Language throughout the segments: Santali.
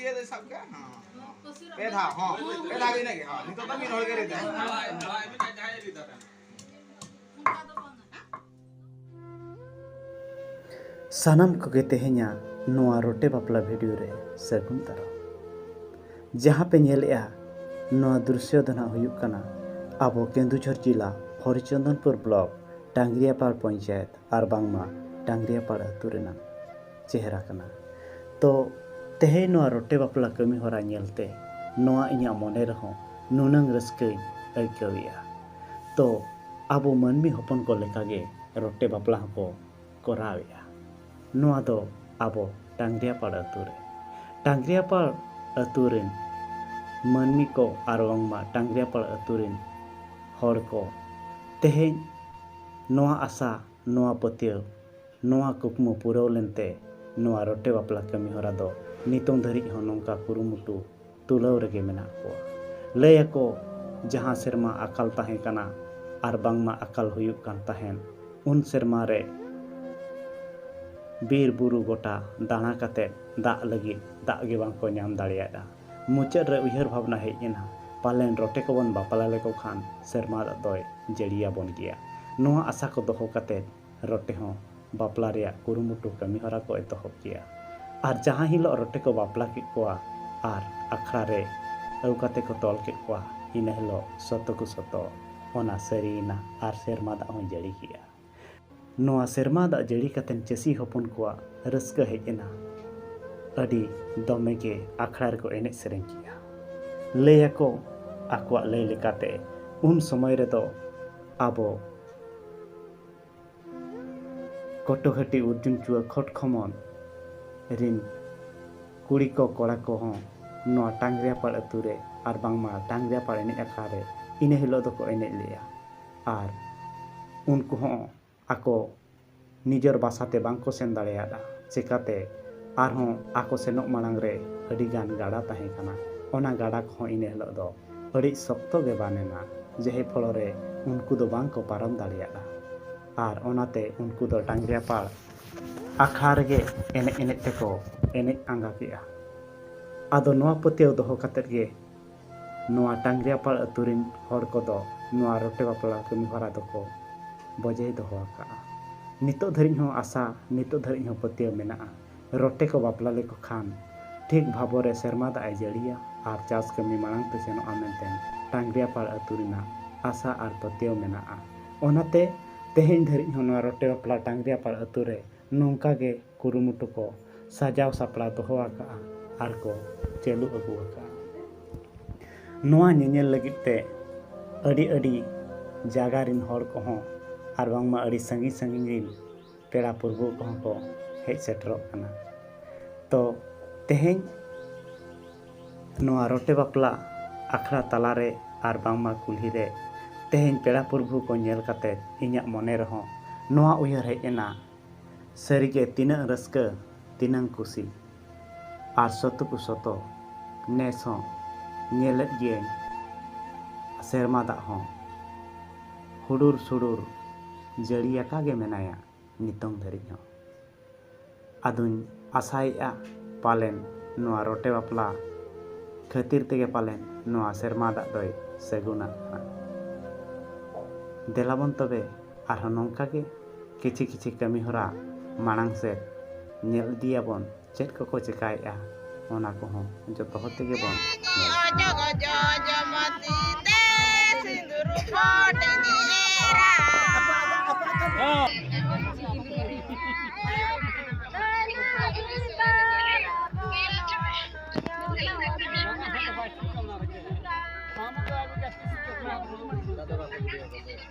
ᱫᱤᱭᱮ ᱫᱚ ᱥᱟᱵ ᱠᱟᱜ ᱦᱚᱸ ᱯᱮ ᱫᱷᱟᱣ ᱦᱚᱸ ᱯᱮ ᱫᱷᱟᱣ ᱤᱱᱟᱹ ᱜᱮ ᱦᱚᱸ ᱱᱤᱛᱚᱜ ᱫᱚ ᱢᱤᱫ ᱦᱚᱲ ᱜᱮ ᱨᱮᱫᱟ ᱥᱟᱱᱟᱢ ᱠᱚᱜᱮ ᱛᱮᱦᱮᱧᱟ ᱱᱚᱣᱟ ᱨᱚᱴᱮ ᱵᱟᱯᱞᱟ ᱵᱷᱤᱰᱤᱭᱳ ᱨᱮ ᱥᱟᱹᱜᱩᱱ ᱫᱟᱨᱟᱢ ᱡᱟᱦᱟᱸ ᱯᱮ ᱧᱮᱞᱮᱜᱼᱟ ᱱᱚᱣᱟ ᱫᱨᱤᱥᱥᱚ ᱫᱚ ᱱᱟᱜ ᱦᱩᱭᱩᱜ ᱠᱟᱱᱟ ᱟᱵᱚ ᱠᱮᱱᱫᱩᱡᱷᱚᱨ ᱡᱤᱞᱟ ᱦᱚᱨᱤᱪᱚᱱᱫᱚᱱᱯᱩᱨ ᱵᱞᱚᱠ ᱴᱟᱝᱜᱽᱨᱤᱭᱟᱯᱟᱲ ᱯᱚᱧᱪᱟᱭᱮᱛ ᱟᱨ ᱵᱟᱝᱢᱟ ᱴᱟᱝᱜᱽᱨᱤᱭᱟᱯᱟᱲ ᱟᱹᱛᱩ ᱨᱮᱱᱟᱜ ᱪᱮᱦᱨᱟ ᱠᱟᱱᱟ ᱛᱚ ᱛᱮᱦᱮᱧ ᱱᱚᱣᱟ ᱨᱚᱴᱮ ᱵᱟᱯᱞᱟ ᱠᱟᱹᱢᱤ ᱦᱚᱨᱟ ᱧᱮᱞ ᱛᱮ ᱱᱚᱣᱟ ᱤᱧᱟᱹᱜ ᱢᱚᱱᱮ ᱨᱮᱦᱚᱸ ᱱᱩᱱᱟᱹᱝ ᱨᱟᱹᱥᱠᱟᱹᱧ ᱟᱹᱭᱠᱟᱹᱣᱮᱜᱼᱟ ᱛᱚ ᱟᱵᱚ ᱢᱟᱹᱱᱢᱤ ᱦᱚᱯᱚᱱ ᱠᱚ ᱞᱮᱠᱟ ᱜᱮ ᱨᱚᱴᱮ ᱵᱟᱯᱞᱟ ᱦᱚᱸ ᱠᱚ ᱠᱚᱨᱟᱣᱮᱜᱼᱟ ᱱᱚᱣᱟ ᱫᱚ ᱟᱵᱚ ᱰᱟᱝᱨᱤᱭᱟᱯᱟᱲ ᱟᱹᱛᱩ ᱨᱮ ᱰᱟᱝᱨᱤᱭᱟᱯᱟᱲ ᱟᱹᱛᱩ ᱨᱮᱱ ᱢᱟᱹᱱᱢᱤ ᱠᱚ ᱟᱨ ᱵᱟᱝᱢᱟ ᱰᱟᱝᱨᱤᱭᱟᱯᱟᱲ ᱟᱹᱛᱩ ᱨᱮᱱ ᱦᱚᱲ ᱠᱚ ᱛᱮᱦᱮᱧ ᱱᱚᱣᱟ ᱟᱥᱟ ᱱᱚᱣᱟ ᱯᱟᱹᱛᱭᱟᱹᱣ ᱱᱚᱣᱟ ᱠᱩᱠᱢᱩ ᱯᱩᱨᱟᱹᱣ ᱞᱮᱱᱛᱮ ᱱᱚᱣᱟ ᱨᱚᱴᱮ ᱵᱟᱯᱞᱟ ᱠᱟᱹᱢᱤ ᱦᱚᱨᱟ ᱫᱚ ᱱᱤᱛᱚᱝ ᱫᱷᱟᱹᱨᱤᱡ ᱦᱚᱸ ᱱᱚᱝᱠᱟ ᱠᱩᱨᱩᱢᱩᱴᱩ ᱛᱩᱞᱟᱹᱣ ᱨᱮᱜᱮ ᱢᱮᱱᱟᱜ ᱠᱚᱣᱟ᱾ ᱞᱟᱹᱭ ᱟᱠᱚ ᱡᱟᱦᱟᱸ ᱥᱮᱨᱢᱟ ᱟᱠᱟᱞ ᱛᱟᱦᱮᱸ ᱠᱟᱱᱟ ᱟᱨ ᱵᱟᱝᱢᱟ ᱟᱠᱟᱞ ᱦᱩᱭᱩᱜ ᱠᱟᱱ ᱛᱟᱦᱮᱸᱱ ᱩᱱ ᱥᱮᱨᱢᱟ ᱨᱮ ᱵᱤᱨ ᱵᱩᱨᱩ ᱜᱚᱴᱟ ᱫᱟᱬᱟ ᱠᱟᱛᱮ ᱫᱟᱜ ᱞᱟᱹᱜᱤᱫ ᱫᱟᱜ ᱜᱮ ᱵᱟᱝ ᱠᱚ ᱧᱟᱢ ᱫᱟᱲᱮᱭᱟᱫᱼᱟ᱾ ᱢᱩᱪᱟᱹᱫ ᱨᱮ ᱩᱭᱦᱟᱹᱨ ᱵᱷᱟᱵᱽᱱᱟ ᱦᱮᱡ ᱮᱱᱟ ᱯᱟᱞᱮᱱ ᱨᱚᱴᱮ ᱠᱚᱵᱚᱱ ᱵᱟᱯᱞᱟ ᱞᱮᱠᱚ ᱠᱷᱟᱱ ᱥᱮᱨᱢᱟ ᱫᱟᱜ ᱫᱚᱭ ᱡᱟᱹᱲᱤ ᱟᱵᱚᱱ ᱜᱮᱭᱟ᱾ ᱱᱚᱶᱟ ᱟᱥᱟ ᱠᱚ ᱫᱚᱦᱚ ᱠᱟᱛᱮ ᱨᱚᱴᱮ ᱦᱚᱸ ᱵᱟᱯᱞᱟ ᱨᱮᱭᱟᱜ ᱠᱩᱨᱩᱢᱩᱴᱩ ᱠᱟᱹᱢᱤ ᱦᱚᱨᱟ ᱠᱚ ᱮᱛᱚᱦᱚᱵ ᱠᱮᱜᱼᱟ᱾ ᱟᱨ ᱡᱟᱦᱟᱸ ᱦᱤᱞᱚᱜ ᱨᱚᱴᱮ ᱠᱚ ᱵᱟᱯᱞᱟ ᱠᱮᱫ ᱠᱚᱣᱟ ᱟᱨ ᱟᱠᱷᱲᱟ ᱨᱮ ᱟᱹᱣ ᱠᱟᱛᱮ ᱠᱚ ᱛᱚᱞ ᱠᱮᱫ ᱠᱚᱣᱟ ᱤᱱᱟᱹ ᱦᱤᱞᱚᱜ ᱥᱚᱛᱚ ᱠᱩ ᱥᱚᱛᱚ ᱚᱱᱟ ᱥᱟᱹᱨᱤ ᱮᱱᱟ ᱟᱨ ᱥᱮᱨᱢᱟ ᱫᱟᱜ ᱦᱚᱸᱭ ᱡᱟᱹᱲᱤ ᱠᱮᱜᱼᱟ᱾ ᱱᱚᱣᱟ ᱥᱮᱨᱢᱟ ᱫᱟᱜ ᱡᱟᱹᱲᱤ ᱠᱟᱛᱮ ᱪᱟᱹᱥᱤ ᱦᱚᱯᱚᱱ ᱠᱚᱣᱟᱜ ᱨᱟᱹᱥᱠᱟᱹ ᱦᱮᱡ ᱮᱱᱟ᱾ ᱟᱹᱰᱤ ᱫᱚᱢᱮ ᱜᱮ ᱟᱠᱷᱲᱟ ᱨᱮᱠᱚ ᱮᱱᱮᱡ ᱥᱮᱨᱮᱧ ᱠᱮᱜᱼᱟ᱾ ᱞᱟᱹᱭ ᱟᱠᱚ ᱟᱠᱚᱣᱟᱜ ᱞᱟᱹᱭ ᱞᱮᱠᱟᱛᱮ ᱩᱱ ᱥᱚᱢᱚᱭ ᱨᱮᱫᱚ ᱟᱵᱚ ᱠᱚᱴᱚᱦᱟᱹᱴᱤ ᱩᱨᱡᱩᱱᱪᱩᱣᱟᱹ ᱠᱷᱚᱴᱠᱷᱚᱢᱚᱱ ᱨᱤᱱ ᱠᱩᱲᱤ ᱠᱚ ᱠᱚᱲᱟ ᱠᱚ ᱦᱚᱸ ᱱᱚᱣᱟ ᱴᱟᱝᱜᱽᱨᱤᱭᱟᱯᱟᱲ ᱟᱹᱛᱩ ᱨᱮ ᱟᱨ ᱵᱟᱝᱢᱟ ᱴᱟᱝᱜᱽᱨᱤᱭᱟᱯᱟᱲ ᱮᱱᱮᱡ ᱟᱠᱷᱲᱟ ᱨᱮ ᱤᱱᱟᱹ ᱦᱤᱞᱚᱜ ᱫᱚᱠᱚ ᱮᱱᱮᱡ ᱞᱮᱜᱼᱟ᱾ ᱟᱨ ᱩᱱᱠᱩ ᱦᱚᱸ ᱟᱠᱚ ᱱᱤᱡᱚᱨ ᱵᱟᱥᱟ ᱛᱮ ᱵᱟᱝ ᱠᱚ ᱥᱮᱱ ᱫᱟᱲᱮᱭᱟᱫᱼᱟ ᱪᱮᱠᱟᱛᱮ ᱟᱨᱦᱚᱸ ᱟᱠᱚ ᱥᱮᱱᱚᱜ ᱢᱟᱲᱟᱝ ᱨᱮ ᱟᱹᱰᱤ ᱜᱟᱱ ᱜᱟᱰᱟ ᱛᱟᱦᱮᱸ ᱠᱟᱱᱟ ᱚᱱᱟ ᱜᱟᱰᱟ ᱠᱚᱦᱚᱸ ᱤᱱᱟᱹ ᱦᱤᱞᱚᱜ ᱫᱚ ᱟᱹᱰᱤ ᱥᱚᱠᱛᱚ ᱜᱮ ᱵᱟᱱ ᱮᱱᱟ ᱡᱮᱦᱮ ᱯᱷᱚᱲᱚ ᱨᱮ ᱩᱱᱠᱩ ᱫᱚ ᱵᱟᱝ ᱠᱚ ᱯᱟᱨᱚᱢ ᱫᱟᱲᱮᱭᱟᱫᱼᱟ ᱟᱨ ᱚᱱᱟᱛᱮ ᱩᱱᱠᱩ ᱫᱚ ᱰᱟᱝᱜᱽᱨᱤᱭᱟᱯᱟᱲ ᱟᱠᱷᱲᱟ ᱨᱮᱜᱮ ᱮᱱᱮᱡ ᱮᱱᱮᱡ ᱛᱮᱠᱚ ᱮᱱᱮᱡ ᱟᱸᱜᱟ ᱠᱮᱫᱼᱟ ᱟᱫᱚ ᱱᱚᱣᱟ ᱯᱟᱹᱛᱭᱟᱹᱣ ᱫᱚᱦᱚ ᱠᱟᱛᱮᱫ ᱜᱮ ᱱᱚᱣᱟ ᱴᱟᱝᱜᱽᱨᱤᱭᱟᱯᱟᱲ ᱟᱹᱛᱩ ᱨᱤᱱ ᱦᱚᱲ ᱠᱚᱫᱚ ᱱᱚᱣᱟ ᱨᱚᱴᱮ ᱵᱟᱯᱞᱟ ᱠᱟᱹᱢᱤ ᱦᱚᱨᱟ ᱫᱚᱠᱚ ᱵᱚᱡᱟᱭ ᱫᱚᱦᱚ ᱟᱠᱟᱫᱼᱟ᱾ ᱱᱤᱛᱚᱜ ᱫᱷᱟᱹᱨᱤᱡ ᱦᱚᱸ ᱟᱥᱟ, ᱱᱤᱛᱚᱜ ᱫᱷᱟᱹᱨᱤᱡ ᱦᱚᱸ ᱯᱟᱹᱛᱭᱟᱹᱣ ᱢᱮᱱᱟᱜᱼᱟ᱾ ᱨᱚᱴᱮ ᱠᱚ ᱵᱟᱯᱞᱟ ᱞᱮᱠᱚ ᱠᱷᱟᱱ ᱴᱷᱤᱠ ᱵᱷᱟᱵᱚᱨ ᱨᱮ ᱥᱮᱨᱢᱟ ᱫᱟᱜ ᱮ ᱡᱟᱹᱲᱤᱭᱟ ᱟᱨ ᱪᱟᱥ ᱠᱟᱹᱢᱤ ᱢᱟᱲᱟᱝ ᱛᱮ ᱥᱮᱱᱚᱜᱼᱟ ᱢᱮᱱᱛᱮ ᱴᱟᱝᱜᱽᱨᱤᱭᱟᱯᱟᱲ ᱟᱹᱛᱩ ᱨᱮᱱᱟᱜ ᱟᱥᱟ ᱟᱨ ᱯᱟᱹᱛᱭᱟᱹᱣ ᱢᱮᱱᱟᱜᱼᱟ᱾ ᱚᱱᱟᱛᱮ ᱛᱮᱦᱮᱧ ᱫᱷᱟᱹᱨᱤᱡ ᱦᱚᱸ ᱱᱚᱣᱟ ᱨᱚᱴᱮ ᱵᱟᱯᱞᱟ ᱴᱟᱝᱜᱽᱨᱤᱭᱟᱯᱟᱲ ᱟᱹᱛᱩ ᱨᱮ ᱱᱚᱝᱠᱟ ᱜᱮ ᱠᱩᱨᱩᱢᱩᱴᱩ ᱠᱚ ᱥᱟᱡᱟᱣ ᱥᱟᱯᱲᱟᱣ ᱫᱚᱦᱚ ᱟᱠᱟᱫᱼᱟ ᱟᱨ ᱠᱚ ᱪᱟᱹᱞᱩ ᱟᱹᱜᱩ ᱟᱠᱟᱫᱼᱟ ᱱᱚᱣᱟ ᱧᱮᱧᱮᱞ ᱞᱟᱹᱜᱤᱫ ᱛᱮ ᱟᱹᱰᱤ ᱟᱹᱰᱤ ᱡᱟᱭᱜᱟ ᱨᱮᱱ ᱦᱚᱲ ᱠᱚᱦᱚᱸ ᱟᱨ ᱵᱟᱝᱢᱟ ᱟᱹᱰᱤ ᱥᱟᱺᱜᱤᱧ ᱥᱟᱺᱜᱤᱧ ᱨᱮᱱ ᱯᱮᱲᱟ ᱯᱩᱨᱵᱷᱩ ᱠᱚᱦᱚᱸ ᱠᱚ ᱦᱮᱡ ᱥᱮᱴᱮᱨᱚᱜ ᱠᱟᱱᱟ ᱛᱚ ᱛᱮᱦᱮᱧ ᱱᱚᱣᱟ ᱨᱚᱴᱮ ᱵᱟᱯᱞᱟ ᱟᱠᱷᱲᱟ ᱛᱟᱞᱟᱨᱮ ᱟᱨ ᱵᱟᱝᱢᱟ ᱠᱩᱞᱦᱤ ᱨᱮ ᱛᱮᱦᱮᱧ ᱯᱮᱲᱟ ᱯᱩᱨᱵᱷᱩ ᱠᱚ ᱧᱮᱞ ᱠᱟᱛᱮ ᱤᱧᱟᱹᱜ ᱢᱚᱱᱮ ᱨᱮᱦᱚᱸ ᱱᱚᱣᱟ ᱩᱭᱦᱟᱹᱨ ᱦᱮᱡ ᱮᱱᱟ ᱥᱟᱹᱨᱤᱜᱮ ᱛᱤᱱᱟᱹᱜ ᱨᱟᱹᱥᱠᱟᱹ ᱛᱤᱱᱟᱹᱝ ᱠᱩᱥᱤ᱾ ᱟᱨ ᱥᱚᱛᱚ ᱠᱚ ᱥᱚᱛᱚ ᱱᱮᱥ ᱦᱚᱸ ᱧᱮᱞᱮᱫ ᱜᱮᱭᱟᱹᱧ ᱥᱮᱨᱢᱟ ᱫᱟᱜ ᱦᱚᱸ ᱦᱩᱰᱩᱨ ᱥᱩᱰᱩᱨ ᱡᱟᱹᱲᱤ ᱟᱠᱟ ᱜᱮ ᱢᱮᱱᱟᱭᱟ ᱱᱤᱛᱚᱝ ᱫᱷᱟᱹᱨᱤᱡ ᱦᱚᱸ᱾ ᱟᱫᱚᱧ ᱟᱥᱟᱭᱮᱜᱼᱟ ᱯᱟᱞᱮᱱ ᱱᱚᱣᱟ ᱨᱚᱴᱮ ᱵᱟᱯᱞᱟ ᱠᱷᱟᱹᱛᱤᱨ ᱛᱮᱜᱮ ᱯᱟᱞᱮᱱ ᱱᱚᱣᱟ ᱥᱮᱨᱢᱟ ᱫᱟᱜ ᱫᱚᱭ ᱥᱟᱹᱜᱩᱱᱟᱜ ᱦᱟᱸᱜ᱾ ᱫᱮᱞᱟᱵᱚᱱ ᱛᱚᱵᱮ ᱟᱨᱦᱚᱸ ᱱᱚᱝᱠᱟ ᱜᱮ ᱠᱤᱪᱷᱤ ᱠᱤᱪᱷᱤ ᱠᱟᱹᱢᱤ ᱦᱚᱨᱟ ᱢᱟᱲᱟᱝ ᱥᱮᱫ ᱧᱮᱞ ᱤᱫᱤᱭᱟᱵᱚᱱ ᱪᱮᱫ ᱠᱚᱠᱚ ᱪᱮᱠᱟᱭᱮᱫᱼᱟ ᱚᱱᱟ ᱠᱚᱦᱚᱸ ᱡᱚᱛᱚ ᱦᱚᱲ ᱛᱮᱜᱮ ᱵᱚᱱ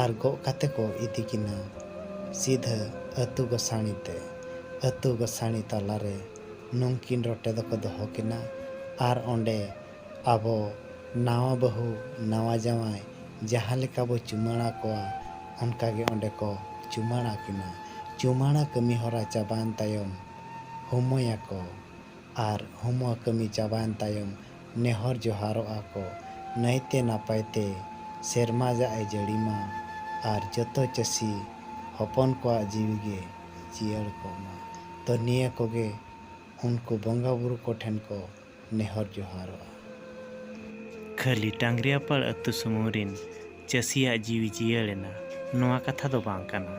ᱟᱨ ᱜᱚᱜ ᱠᱟᱛᱮ ᱠᱚ ᱤᱫᱤ ᱠᱤᱱᱟ ᱥᱤᱫᱷᱟᱹ ᱟᱹᱛᱩ ᱜᱚᱥᱟᱬᱤ ᱛᱮ᱾ ᱟᱹᱛᱩ ᱜᱚᱥᱟᱬᱤ ᱛᱟᱞᱟ ᱨᱮ ᱱᱩᱝᱠᱤᱱ ᱨᱚᱴᱮ ᱫᱚᱠᱚ ᱫᱚᱦᱚ ᱠᱤᱱᱟ ᱟᱨ ᱚᱸᱰᱮ ᱟᱵᱚ ᱱᱟᱣᱟ ᱵᱟᱹᱦᱩ ᱱᱟᱣᱟ ᱡᱟᱶᱟᱭ ᱡᱟᱦᱟᱸ ᱞᱮᱠᱟ ᱵᱚ ᱪᱩᱢᱟᱹᱲᱟ ᱠᱚᱣᱟ ᱚᱱᱠᱟ ᱜᱮ ᱚᱸᱰᱮ ᱠᱚ ᱪᱩᱢᱟᱹᱲᱟ ᱠᱤᱱᱟ᱾ ᱪᱩᱢᱟᱹᱲᱟ ᱠᱟᱹᱢᱤ ᱦᱚᱨᱟ ᱪᱟᱵᱟᱭᱮᱱ ᱛᱟᱭᱚᱢ ᱦᱩᱢᱚᱭᱟᱠᱚ ᱟᱨ ᱦᱩᱢᱚ ᱠᱟᱹᱢᱤ ᱪᱟᱵᱟᱭᱮᱱ ᱛᱟᱭᱚᱢ ᱱᱮᱦᱚᱨ ᱡᱚᱦᱟᱨᱚᱜᱼᱟ ᱠᱚ ᱱᱟᱹᱭᱛᱮ ᱱᱟᱯᱟᱭ ᱛᱮ ᱥᱮᱨᱢᱟ ᱡᱟᱜ ᱮ ᱡᱟᱹᱲᱤ ᱢᱟ ᱟᱨ ᱡᱚᱛᱚ ᱪᱟᱹᱥᱤ ᱦᱚᱯᱚᱱ ᱠᱚᱣᱟᱜ ᱡᱤᱣᱤ ᱜᱮ ᱡᱤᱭᱟᱹᱲ ᱠᱚᱜ ᱢᱟ ᱛᱚ ᱱᱤᱭᱟᱹ ᱠᱚᱜᱮ ᱩᱱᱠᱩ ᱵᱚᱸᱜᱟ ᱵᱩᱨᱩ ᱠᱚ ᱴᱷᱮᱱ ᱠᱚ ᱱᱮᱦᱚᱨ ᱡᱚᱦᱟᱨᱚᱜᱼᱟ᱾ ᱠᱷᱟᱹᱞᱤ ᱴᱟᱝᱜᱽᱨᱤᱭᱟᱯᱟᱲ ᱟᱹᱛᱩ ᱥᱩᱢᱩᱝ ᱨᱤᱱ ᱪᱟᱹᱥᱤᱭᱟᱜ ᱡᱤᱣᱤ ᱡᱤᱭᱟᱹᱲ ᱮᱱᱟ ᱱᱚᱣᱟ ᱠᱟᱛᱷᱟ ᱫᱚ ᱵᱟᱝ ᱠᱟᱱᱟ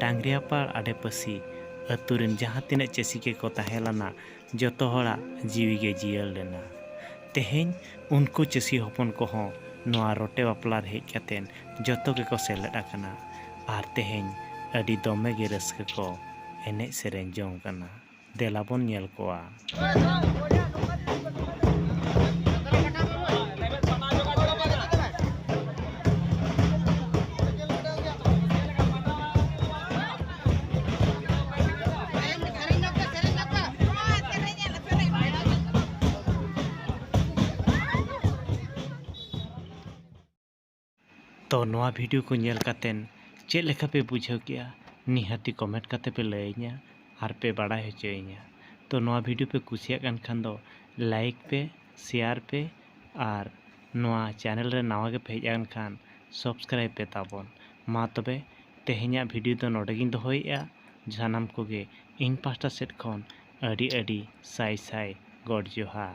ᱴᱟᱝᱜᱽᱨᱤᱭᱟᱯᱟᱲ ᱟᱰᱮ ᱯᱟᱹᱥᱤ ᱟᱹᱛᱩ ᱨᱤᱱ ᱡᱟᱦᱟᱸ ᱛᱤᱱᱟᱹᱜ ᱪᱟᱹᱥᱤ ᱜᱮᱠᱚ ᱛᱟᱦᱮᱸ ᱞᱟᱱᱟ ᱡᱚᱛᱚ ᱦᱚᱲᱟᱜ ᱡᱤᱣᱤ ᱜᱮ ᱡᱤᱭᱟᱹᱲ ᱞᱮᱱᱟ᱾ ᱛᱮᱦᱮᱧ ᱩᱱᱠᱩ ᱪᱟᱹᱥᱤ ᱦᱚᱯᱚᱱ ᱠᱚᱦᱚᱸ ᱱᱚᱶᱟ ᱨᱚᱴᱮ ᱵᱟᱯᱞᱟ ᱨᱮ ᱦᱮᱡ ᱠᱟᱛᱮ ᱡᱚᱛᱚ ᱜᱮᱠᱚ ᱥᱮᱞᱮᱫ ᱟᱠᱟᱱᱟ ᱟᱨ ᱛᱮᱦᱮᱧ ᱟᱹᱰᱤ ᱫᱚᱢᱮ ᱜᱮ ᱨᱟᱹᱥᱠᱟᱹ ᱠᱚ ᱮᱱᱮᱡ ᱥᱮᱨᱮᱧ ᱡᱚᱝ ᱠᱟᱱᱟ᱾ ᱫᱮᱞᱟ ᱵᱚᱱ ᱧᱮᱞ ᱠᱚᱣᱟ᱾ ᱛᱚ ᱱᱚᱣᱟ ᱵᱷᱤᱰᱤᱭᱳ ᱠᱚ ᱧᱮᱞ ᱠᱟᱛᱮᱫ ᱪᱮᱫ ᱞᱮᱠᱟ ᱯᱮ ᱵᱩᱡᱷᱟᱹᱣ ᱠᱮᱜᱼᱟ ᱱᱤᱦᱟᱹᱛᱤ ᱠᱚᱢᱮᱱᱴ ᱠᱟᱛᱮᱫ ᱯᱮ ᱞᱟᱹᱭᱟᱹᱧᱟ ᱟᱨ ᱯᱮ ᱵᱟᱲᱟᱭ ᱦᱚᱪᱚᱭᱤᱧᱟ ᱛᱚ ᱱᱚᱣᱟ ᱵᱷᱤᱰᱤᱭᱳ ᱯᱮ ᱠᱩᱥᱤᱭᱟᱜ ᱠᱟᱱ ᱠᱷᱟᱱ ᱫᱚ ᱞᱟᱭᱤᱠ ᱯᱮ ᱥᱮᱭᱟᱨ ᱯᱮ ᱟᱨ ᱱᱚᱣᱟ ᱪᱮᱱᱮᱞ ᱨᱮ ᱱᱟᱣᱟ ᱜᱮᱯᱮ ᱦᱮᱡ ᱟᱠᱟᱱ ᱠᱷᱟᱱ ᱥᱚᱵᱥᱠᱨᱟᱭᱤᱵᱽ ᱯᱮ ᱛᱟᱵᱚᱱ ᱢᱟ ᱛᱚᱵᱮ ᱛᱮᱦᱮᱧᱟᱜ ᱵᱷᱤᱰᱤᱭᱳ ᱫᱚ ᱱᱚᱰᱮ ᱜᱮᱧ ᱫᱚᱦᱚᱭᱮᱫᱼᱟ ᱥᱟᱱᱟᱢ ᱠᱚᱜᱮ ᱤᱧ ᱯᱟᱥᱴᱟ ᱥᱮᱫ ᱠᱷᱚᱱ ᱟᱹᱰᱤ ᱟᱹᱰᱤ ᱥᱟᱭ ᱥᱟᱭ ᱜᱚᱰ ᱡᱚᱦᱟᱨ